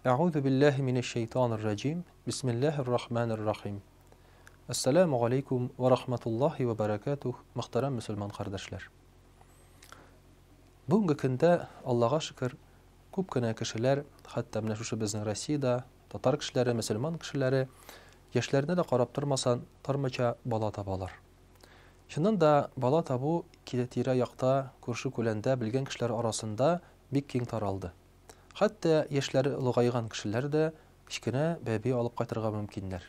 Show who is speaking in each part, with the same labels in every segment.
Speaker 1: Әгъузу биллаһи минәш шәйтанир раҗим. Бисмиллаһир рахманир рахим. Ассаламу алейкум ва рахматуллахи ва баракатух, мөхтәрәм мусульман кардәшләр. Бүгенге көндә, Аллага шөкер, күп кенә кешеләр, хәтта менә шушы безнең Россиядә, татар кешеләре, мусульман кешеләре, яшьләренә дә карап тормасан, тормыча бала табалар. Чыннан да, бала табу тирә якта, күрше-күләндә, белгән кешеләр арасында бик киң таралды. Хәтта яшьләре олыгайган кешеләр дә кечкенә бәби алып кайтырга мөмкиннәр.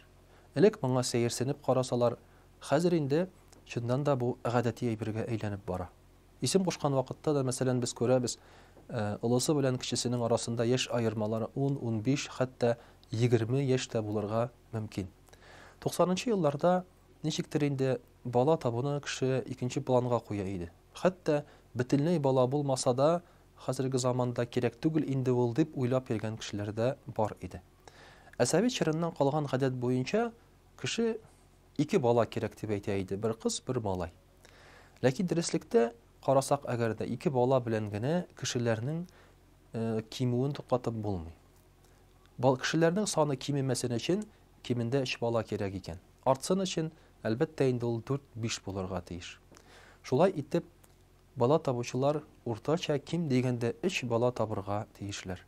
Speaker 1: Элек моңа сәерсенеп карасалар, хәзер инде, чыннан да, бу гадәти әйбергә әйләнеп бара. Исем кушкан вакытта да, мәсәлән, без күрәбез, олысы белән кечесенең арасында яшь аермалары ун, унбиш, хәтта егерме яшь тә булырга мөмкин. Туксанынчы елларда Ничектер инде бала табуны кеше икенче планга куя иде. Хәтта бөтенләй бала булмаса да, хәзерге заманда кирәк түгел инде ул дип уйлап йөргән кешеләр дә бар иде. Ә совет чорыннан калган гадәт буенча, кеше ике бала кирәк дип әйтә иде, бер кыз, бер малай. Ләкин дөреслектә карасак әгәр дә, ике бала белән генә кешеләрнең кимүен туктатып булмый. Кешеләрнең саны кимемәсен өчен, Кимендә өч бала кирәк икән. Артсын өчен, әлбәттә инде ул дүрт-биш булырга тиеш. Шулай итеп, бала табучылар уртача ким дигәндә өч бала табырга тиешләр.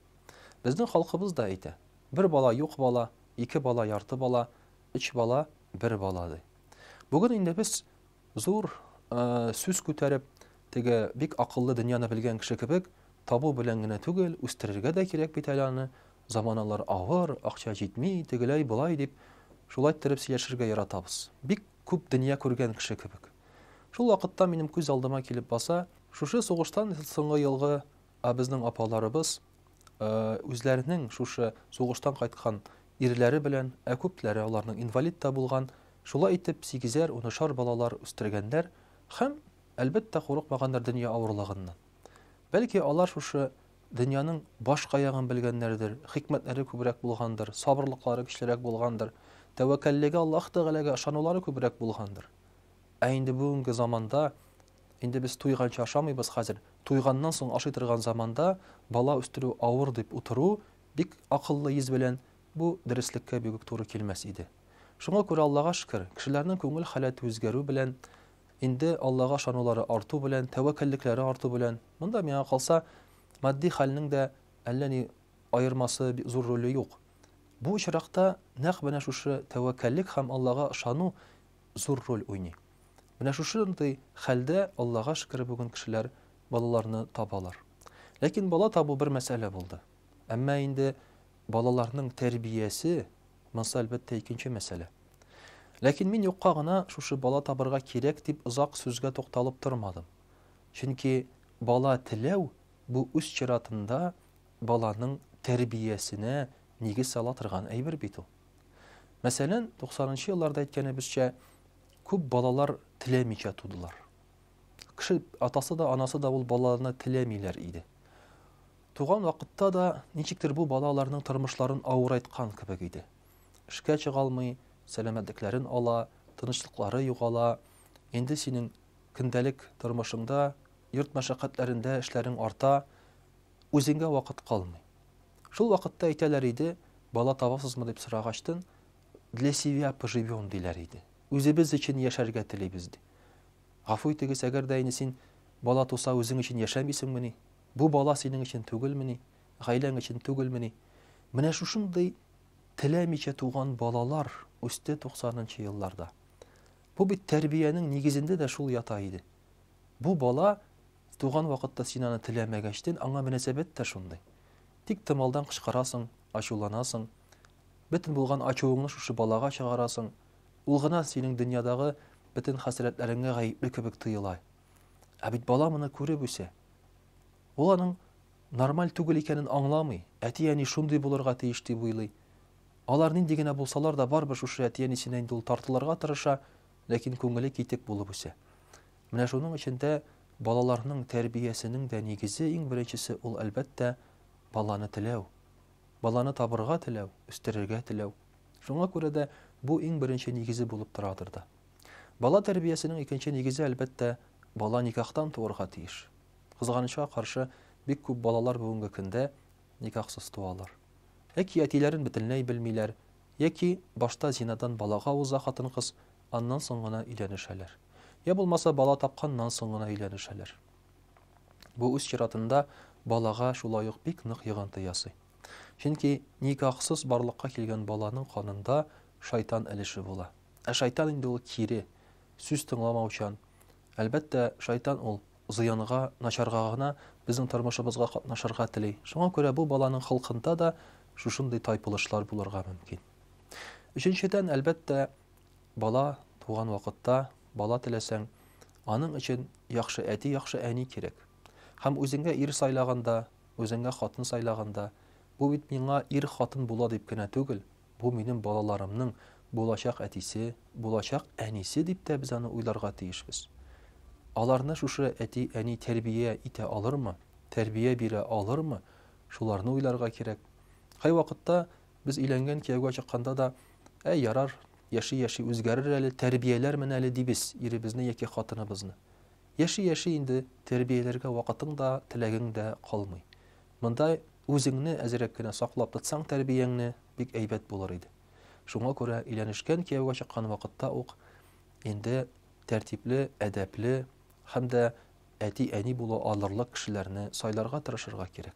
Speaker 1: Безнең халкыбыз да әйтә, Бер бала юк бала, ике бала ярты бала, өч бала бер бала, ди. Бүген инде без зур сүз күтәреп, теге бик акыллы дөньяны белгән кеше кебек, табу белән генә түгел, үстерергә дә кирәк бит әле аны, заманалар авыр, акча җитми, тегеләй, болай дип, шулайттереп сөйләшергә яратабыз. Бик күп дөнья күргән кеше кебек. Шул вакытта минем күз алдыма килеп баса, шушы сугыштан соңгы елгы а безнең апаларыбыз үзләренең шушы сугыштан кайткан ирләре белән, ә күпләре аларның инвалид та булган, шулай итеп сигезәр, унышар балалар үстергәннәр һәм, әлбәттә, курыкмаганнар дөнья авырлыгыннан. Бәлки алар шушы дөньяның баш каягын белгәннәрдер, хикмәтләре күбрәк булгандыр, сабырлыклары көчлерәк булгандыр, тәвәккәллеге Аллаһ Тәгаләгә ышанулары күбрәк булгандыр. Ә инде бүгенге заманда инде без туйганчы ашамыйбыз хәзер. Туйганнан соң ашый торган заманда бала үстерү авыр дип утыру бик акыллы йөз белән бу дөреслеккә бигүк туры килмәс иде. Шуңа күрә Аллага шөкер, кешеләрнең күңел халәте үзгәрү белән Инде Аллага ышанулары арту белән, тәвәккәллекләре арту белән, монда, миңа калса, матди хәлнең дә әллә ни аермасы, зур роле юк. Бу очракта нәкъ менә шушы тәвәккәллек һәм Аллага ышану зур роль уйный. Менә шушындый хәлдә, Аллага шөкер, бүген кешеләр балаларны табалар. Ләкин бала табу бер мәсьәлә булды. Әмма инде Балаларның тәрбиясе, монсы, әлбәттә, икенче мәсьәлә. Ләкин мин юкка гына шушы бала табырга кирәк дип озак сүзгә тукталып тормадым. Чөнки бала теләү, бу үз чиратында баланың тәрбиясенә нигез сала торган әйбер бит ул. Мәсәлән, 90 нчы елларда әйткәнебезчә, күп балалар теләмичә тудылар. Кеше атасы да, анасы да ул балаларны теләмиләр иде. Туган вакытта да ничектер бу бала аларның тормышларын авырайткан кебек иде. Эшкә чыга алмый, сәламәтлекләрен ала, тынычлыклары югала. Инде синең көндәлек тормышыңда, йорт мәшәкатьләрендә эшләрең арта, үзеңгә вакыт калмый. Шул вакытта әйтәләр иде, бала табасызмы дип сорагачтын, для себя поживем диләр иде. Үзебез өчен яшәргә телибез ди. Гафу итегез, әгәр дә инде син бала туса үзең өчен яшәмисеңмени? Бу бала синең өчен түгелмени, гаиләң өчен түгелмени? Менә шушындый теләмичә туган балалар үсте туксанынчы елларда. Бу бит тәрбиянең нигезендә дә шул ята иде. Бу бала туган вакытта син аны теләмәгәчтен, аңа мөнәсәбәт тә шундый. Тик томалдан кычкырасың, ачуланасың, бөтен булган ачуыңны шушы балага чыгарасың, ул гына синең дөньядагы бөтен хәсрәтләреңә гаепле кебек тоела. Ә бит бала моны күреп үсә. Ул аның нормаль түгел икәнен аңламый. Әти-әни шундый булырга тиеш дип уйлый. Алар нинди генә булсалар да, барыбер шушы әти-әнисенә инде ул тартылырга тырыша, ләкин күңеле китек булып үсә. Менә шуның өчен дә балаларның тәрбиясенең дә нигезе, иң беренчесе, ул, әлбәттә, баланы теләү. Баланы табырга теләү, үстерергә теләү. Шуңа күрә дә бу иң беренче нигезе булып торадыр да. Бала тәрбиясенең икенче нигезе, әлбәттә, бала никахтан туарга тиеш. Кызганычка каршы, бик күп балалар бүгенге көндә никахсыз туалар. Яки әтиләрен бөтенләй белмиләр, яки башта зинадан балага уза хатын-кыз, аннан соң гына өйләнешәләр. Я булмаса, бала тапканнан соң гына өйләнешәләр. Бу үз чиратында балага шулай ук бик нык йогынты ясый. Чөнки никахсыз барлыкка килгән баланың канында шайтан өлеше була. Ә шайтан инде ул кире, сүз тыңламаучан. Әлбәттә, шайтан ул зыянга, начарга гына безнең тормышыбызга катнашырга тели. Шуңа күрә бу баланың холкында да шушындый тайпылышлар булырга мөмкин. Өченчедән, әлбәттә, бала туган вакытта, бала теләсәң, аның өчен яхшы әти, яхшы әни кирәк. Һәм үзеңә ир сайлаганда, үзеңә хатын сайлаганда, бу бит миңа ир-хатын була дип кенә түгел, Бу минем балаларымның булачак әтисе, булачак әнисе дип тә без аны уйларга тиешбез. Аларны шушы әти-әни тәрбия итә алырмы, тәрбия бирә алырмы, шуларны уйларга кирәк. Кайвакытта без өйләнгән кияүгә чыкканда да, Әй, ярар, яши-яши үзгәрер әле, тәрбияләрмен әле, дибез иребезне яки хатыныбызны. Яши-яши инде тәрбияләргә вакытың да, теләгең дә калмый. Монда үзеңне әзрәк кенә саклап тотсаң тәрбияңне, бик әйбәт булыр иде. Шуңа күрә өйләнешкән, кияүгә чыккан вакытта ук инде тәртипле, әдәпле һәм дә әти-әни була алырлык кешеләрне сайларга тырышырга кирәк.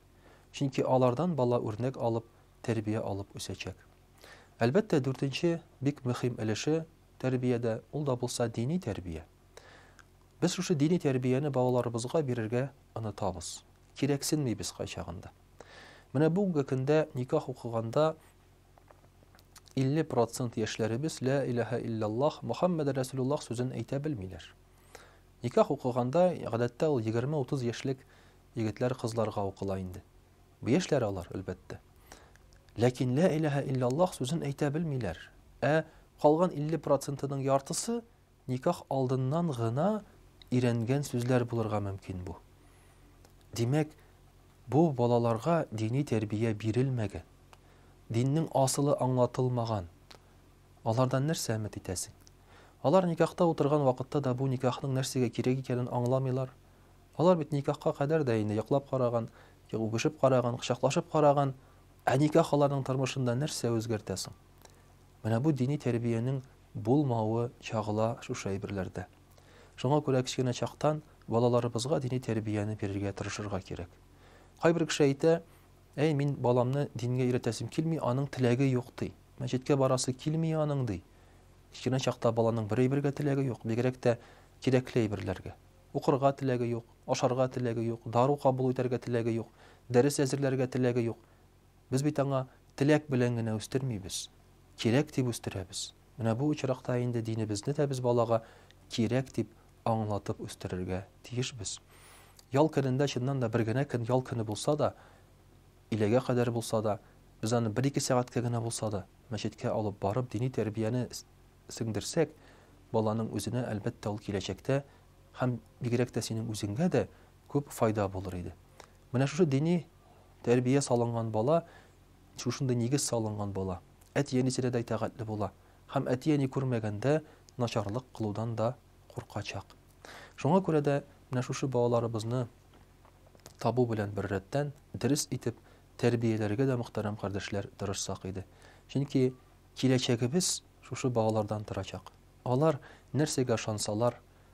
Speaker 1: Чөнки алардан бала үрнәк алып, тәрбия алып үсәчәк. Әлбәттә, дүртенче бик мөһим өлеше тәрбиядә, ул да булса дини тәрбия. Без шушы дини тәрбияне балаларыбызга бирергә онытабыз. кирәксенмибез кайчагында. Менә бүгенге көндә никах укыганда 50 процент яшьләребез лә иләһә илляллах Мөхәммәд Рәсулуллах сүзен әйтә белмиләр. Никах укыганда гадәттә ул 20-30 яшьлек егетләр кызларга укыла инде. Бу яшьләр алар, әлбәттә. Ләкин лә иләһә илляллах сүзен әйтә белмиләр. Ә калган 50 процентының яртысы Никах алдыннан гына өйрәнгән сүзләр булырга мөмкин бу. Димәк, бу балаларга дини тәрбия бирелмәгән, диннең асылы аңлатылмаган. Алардан нәрсә өмет итәсең? Алар никахта утырган вакытта да бу никахның нәрсәгә кирәк икәнен аңламыйлар. Алар бит никахка кадәр дә инде йоклап караган, үбешеп караган, кочаклашып караган. Ә никах аларның тормышында нәрсә үзгәртә соң? Менә бу дини тәрбиянең булмавы чагыла шушы әйберләрдә. Шуңа күрә кечкенә чактан балаларыбызга дини тәрбияне бирергә тырышырга кирәк. Кайбер кеше әйтә, әй, мин баламны дингә өйрәтәсем килми, аның теләге юк, ди. Мәчеткә барасы килми аның, ди. Кечкенә чакта баланың бер әйбергә теләге юк, бигрәк тә кирәкле әйберләргә. Укырга теләге юк, ашарга теләге юк, дару кабул итәргә теләге юк, дәрес әзерләргә теләге юк. Без бит аңа теләк белән генә үстермибез, кирәк дип үстерәбез. Менә бу очракта инде динебезне дә без балага кирәк дип аңлатып үстерергә тиешбез. Ял көнендә, чыннан да, бер генә көн ял көне булса да, иләгә кадәр булса да, без аны бер-ике сәгатькә генә булса да, мәчеткә алып барып, дини тәрбияне сеңдерсәк, баланың үзенә, әлбәттә, ул киләчәктә һәм бигрәк тә синең үзеңгә дә күп файда булыр иде. Менә шушы дини тәрбия салынган бала, шушындый нигез салынган бала әти-әнисенә дә итагатьле була һәм әти-әни күрмәгәндә начарлык кылудан да куркачак. Шуңа күрә дә менә шушы балаларыбызны табу белән беррәттән дөрес итеп тәрбияләргә дә мөхтәрәм кардәшләр тырышсак иде. Чөнки киләчәгебез шушы балалардан торачак. Алар нәрсәгә ышансалар,